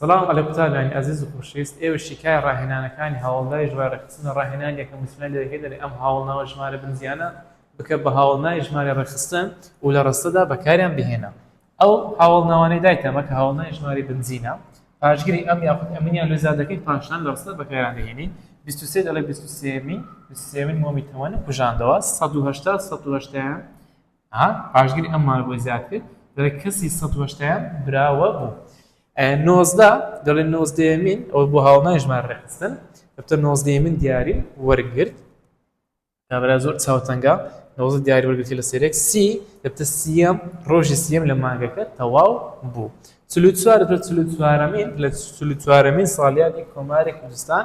سڵاو علی قوتابیانی ئازیز و خۆشەویست ئێوەش شیکای ڕاهێنانەکانی هاوڵناوی ژمارە ڕێکخستنە ڕاهێنان یەکەم وتنە لێکردنی ئەم هاوڵناوە ژمارە بنزیانە بکە بە هاوڵناوی ژمارە ڕێکخستن و لە ڕستەدا بەکاریان بهێنە ئەو هاوڵناوانەی دایتە مەکە هاوڵناوی ژمارەی بنزینە پاشگری ئەم یاخود ئەمنیان لۆ زیاد دەکەی پاشان لە ڕستە بەکاریان دەهێنی بیست و سێ دەڵێ بیست و سێ مین بیست و سێ مین مۆمی تەوەن کوژاندەوە سەد و هەشتا سەد و هەشتایان ها پاشگری ئەم مانگە زیاد کرد دەڵێ کەسی سەد وەشتایەم براوە بوو نۆزدە دەڵێ نۆزدەیەمین ئەوە بۆ هاوڵنای ژمار ڕێخستن دەفتە نۆزدەیەمین دیاری وەرگرت کابرا زۆر چاوتەنگە نۆزە دیاری وەرگرتی لە سێرێک سی دەفتە سیەم ڕۆژی سیەم لە مانگەکە تەواو بوو چلو چوار دەفتە چلو چوارەمین لە چلو چوارەمین ساڵیادی کۆماری کوردستان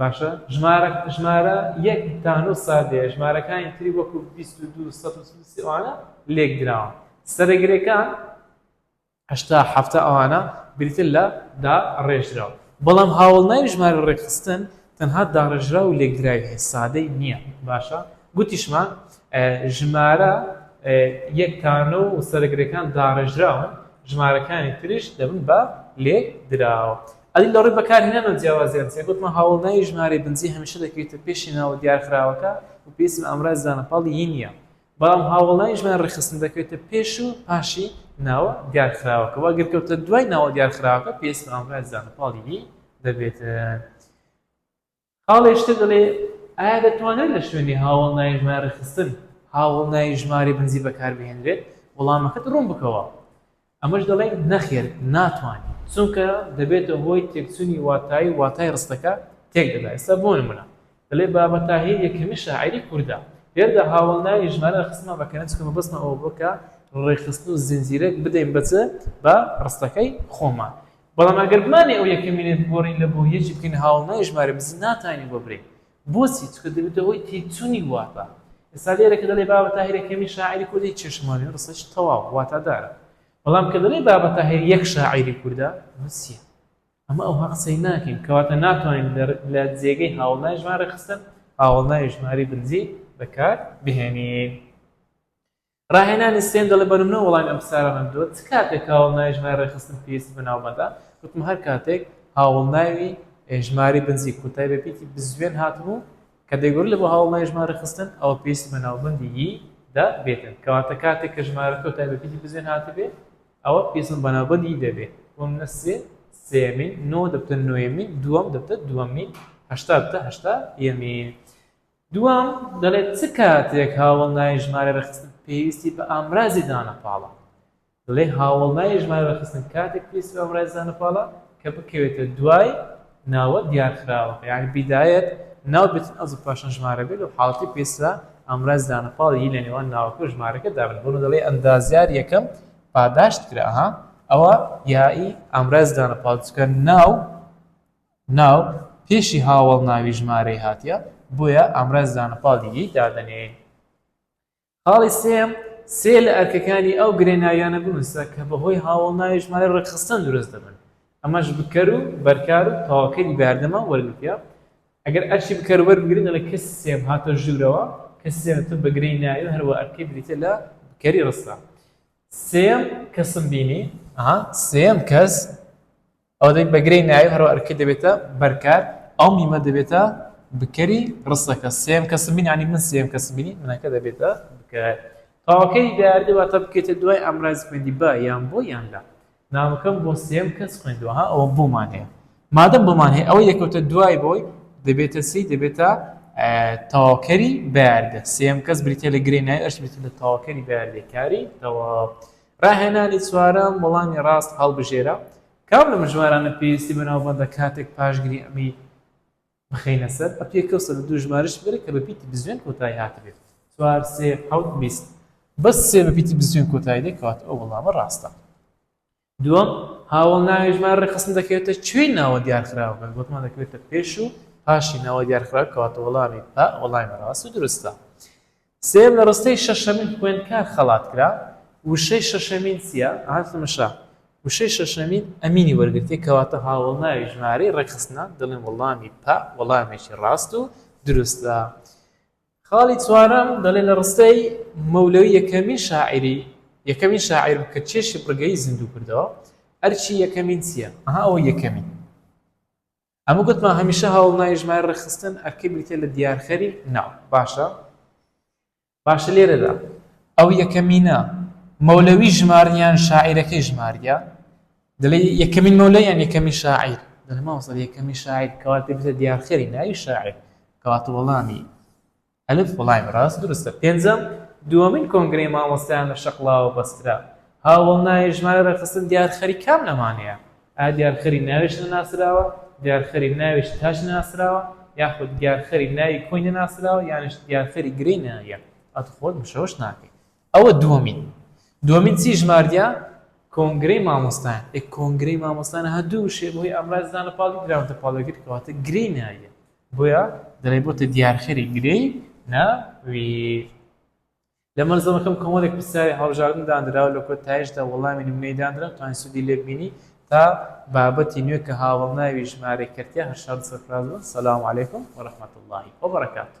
باشە ژمارە ژمارە یەک تا نۆ سادەیە ژمارەکانی تری وەکو بیست و دوو سەد و سی ئەوانە لێک دراوە سەرەگرەکان هەشتا حەفتا ئەوانە بریتن لە دا ڕێژراوە بەڵام هاوڵناوی ژمارە ڕێکخستن تەنها داڕێژرا و لێکدراوی هەیە سادەی نییە باشە گوتیشمان ژمارە یەکتانە و سەرگرەکان داڕێژراون ژمارەکانی تریش دەبن بە لێک دراوە ئەدی لەڕووی بەکارهێنان و جیاوازییان چییە؟ گوتمان هاوەڵناوی ژمارەی بنجی هەمیشە دەکەوێتە پێشی ناوە دیارخراوەکە و پێویستمان ئامرازی زانەپاڵی ی نییە، بەڵام هاوەڵناوی ژمارەی ڕێکخستن دەکەوێتە پێش و پاشی ناوە دیارخراوەکە و ئەگەر کەوتە دوای ناوە دیارخراوەکە پێویستمان ئامرازی زانەپاڵی ی دەبێت. خاڵێش تر دەڵێ، ئایا دەتوانرێت لە شوێنی هاوەڵناوی ژمارە ڕێکخستن، هاوەڵناوی ژمارەی بەنزین بەکاربهێنرێت؟ وەڵامەکەت ڕوون بکەوە. ئەمەش دەڵێین، نەخێر، ناتوانین. چونکە دەبێتە هۆی تێکچوونی واتایی و واتای ڕستەکە تێکدەدا. ئێستا بۆ نموونە، دەڵێ، بابە تاهیر یەکەمین شاعیری کوردە. لێرەدا هاوەڵناوی ژمارە ڕێکخستنمان بەکارهێنا چونکە مەبەستمان ئەوە بووە کە ڕێکخستن و زنجیرەک بدەین بە چ؟ بە ڕستەکەی خۆمان. بەڵام ئەگەر بمانێ ئەو یەکە مینێت بگۆڕین لە بۆ یەکی بکەین هاوڵنای ژمارە بزن ناتوانین بۆ برین بۆچی چکە دەبێتە هۆی تێچوونی واتا ئێستا لێرە کە دەڵێ بابە تاهیرە کەمی شاعری کوردی چێشمانی ڕسەش تەواو واتادارە بەڵام کە دەڵێ بابە تاهیر یەک شاعری کوردە نووسیە ئەمە ئەو هەقسەی ناکەین کەواتە ناتوانین لە جێگەی هاوڵنای ژمارە خستن هاوڵنای ژماری بنجی بەکار بهێنین ڕاهێنانی سێیەم دەڵێت، بە نمونە وەڵامی ئەم پرسیارانەم دۆت، چ کاتێک هاوەڵناوی ژمارەی ڕێکخستن پێویستی بە ناوبەندە؟ گوتم، هەر کاتێک هاوەڵناوی ژمارەی بنجی کۆتای بە پیتی بزوێن هاتبوو کە دەگۆڕدرێت بۆ هاوەڵناوی ژمارە ڕێکخستن، ئەوە پێویستی بە ناوبەندی ی دە بێتن. کەواتە کاتێک کە ژمارە کۆتای بە پیتی بزوێن هاتبێت، ئەوە پێویستم بە ناوبەندی ی دەبێت. بۆ نمونە، سێ، سێیەمین، نۆ دەبتە نۆیەمین، دووەم دەبتە دووەمین، هەشتا دەبتە هەشتا یەمین. دووەم، دەڵێت چ کاتێک هاوەڵناوی ژمارە رێکخستن پێویستی بە ئامرازی دانەپاڵە؟ دەڵێت هاوەڵناوی ژمارە رێکخستن کاتێک پێویستی بە ئامرازی دانەپاڵە کە بکەوێتە دوای ناوە دیارخراوەکە یانی بیدایەت ناو بێت و ئەزڵ پاشان ژمارە بێت لەو حاڵەتەی پێویستە بە ئامرازی دانەپاڵ ی لە نێوان ناوەکە و ژمارەکە دا بنێت بۆنموونە دەڵێت ئەندازیار یەکەم پاداشت کرا ئەوە یایی ئامرازی دانەپاڵە چونکە ناو ناو پێشی هاوەڵ ناوی ژمارەی هاتیە بۆیە ئامرازی دانە پاڵی یەی دادەنێین. خاڵی سێیەم، سێ لە ئەرکەکانی ئەو گرێ ناویانە بنووسە کە بە هۆی هاوەڵ ناوی ژمارەی ڕێکخستن دروست دەبن ئەمەش بکەر و بەرکار و تەواوکەری بەیاردەمە وەرگرتیە ئەگەر ئەرکی بکەر وەربگرین دەڵێ کەسی سێیەم هاتە ژوورەوە کەسی سێیەم دەتوە بە گرێی ناوی و هەروە ئەرکەی بریتیە لە بکەری ڕستە سێیەم کەسم بینی ئەها سێیەم کەس ئەوە دەبێت بە گرێی ناوی و هەروەها ئەرکەکە دەبێتە بەرکار، ئەو میمە دەبێتە بکەری ڕستەکە، سێیەم کەسم بینی یانی من سێیەم کەسم بینی، منەکە دەبێتە بکەر. تەواوکەری دیاردە واتە بکەیتە دوای ئامرازی پەیوەندی بە، یان بۆ، یان لە. نامەکەم بۆ سێیەم کەس خوێندووە، ها ئەوە بۆمان هەیە. مادەم بۆمان هەیە، ئەوەی دەکەوتە دوای بۆی دەبێتە چی؟ دەبێتە تەواوکەری بەیاردە، سێیەم کەس بریتییە لە گرێی ناوی، ئەوش بریتییە لە تەواوکەری بەیاردەی کاری تەواو. ڕاهێنانی چوارەم، وەڵامی ڕاست هەڵبژێرە، کام لەم ژمارانە پێویستی بە ناوبەندە کاتێک پاشگری ئەمەی بخەینە سەر، ئەپێ کەو سەر و دوو ژمارەشی بەرە کە بە پیتی بزوێن کۆتایی هاتبێت، چوار، سێ، حەوت، بیست. بەس سێ بە پیتی بزوێن کۆتایی دێت کەواتە ئەو وەڵامە ڕاستە. دووەم، هاوەڵ ناوی ژمارە ڕێکخستن دەکەوێتە کوێی ناوە دیارخراوەکە، گوتمان دەکەوێتە پێش و پاشی ناوە دیارخراوەکە کەواتە وەڵامی، پا، وەڵامی ڕاست و دروستە. سێیەم لە ڕستەی شەشەمین خوێندکار خەڵات کرا، وشەی شەشەمین چییە؟ ئەها تەمەشا، وشەی شەشەمین ئەمینی وەرگرتییە کەواتە هاوەڵناوی ژمارەی ڕێکخستنە، دەڵێم وەڵامی پە وەڵامێکی ڕاست و دروستە. خاڵی چوارەم دەڵێ لە ڕستەی مەولەوی یەکەمین شاعیری یەکەمین شاعیرم کە چێشی بڕگەیی زیندوو کردەوە، ئەرکی یەکەمین چییە؟ ئەها ئەوە یەکەمین. ئەمە گوتمان هەمیشە هەوڵناوی ژمارە ڕێکخستن ئەرکەی بریتیە لە دیارخەری ناو باشە باشە لێرەدا ئەو یەکەمینە مەولەوی ژمارن یان شاعیرەکەی ژماریە دەڵێ یەکەمین مەولە یان یەکەمی شاعیر دەلماوەسەر یەکەمی شاعیر کەواتە بێتە دیارخەری ناوی شاعیر کەواتە وەڵامی ئەلف وڵایم ڕاست دروستە. پێنجەم، دووەمین کۆنگرەی مامۆستایان لە شەقڵاوە بەسترا. هاوەڵ ناوی ژمارە ڕێکخستن دیارخەری کام لەمانەیە؟ ئایا دیارخەری ناویش نەناسراوە، دیارخەری ناوی شتاش نەناسراوە، یاخود دیارخەری ناوی کۆی نەناسراوە، یانیش دیارخەری گرێی ناوییە؟ ئەت خۆت مشەوش ناکەی. ئەوە دووەمین. دووەمین چی ژماردیە؟ کۆنگرەی مامۆستایان. ئێ کۆنگرەی مامۆستایان ها دوو وشەیە بەهۆی ئامرازی زانە پاڵی دراونەتە پاڵ یەکتر کەواتە گرێی ناوییە. بۆیە دەڵێ بۆتە دیارخەری گرێی ناویر. لە مەلزەمەکەم کۆمەڵێک پرسیاری هەڵبژاردن دانرا و لە کۆتاییشدا وەڵامی نمونەیی دانرا و توانین سوودی لێ ببینی تا بابەتی نوێ کە هاوەڵناوی ژمارەی کەرتیە هەر شاد و سەرفراز بن سلام علیکم و رحمت اللە و برکاته.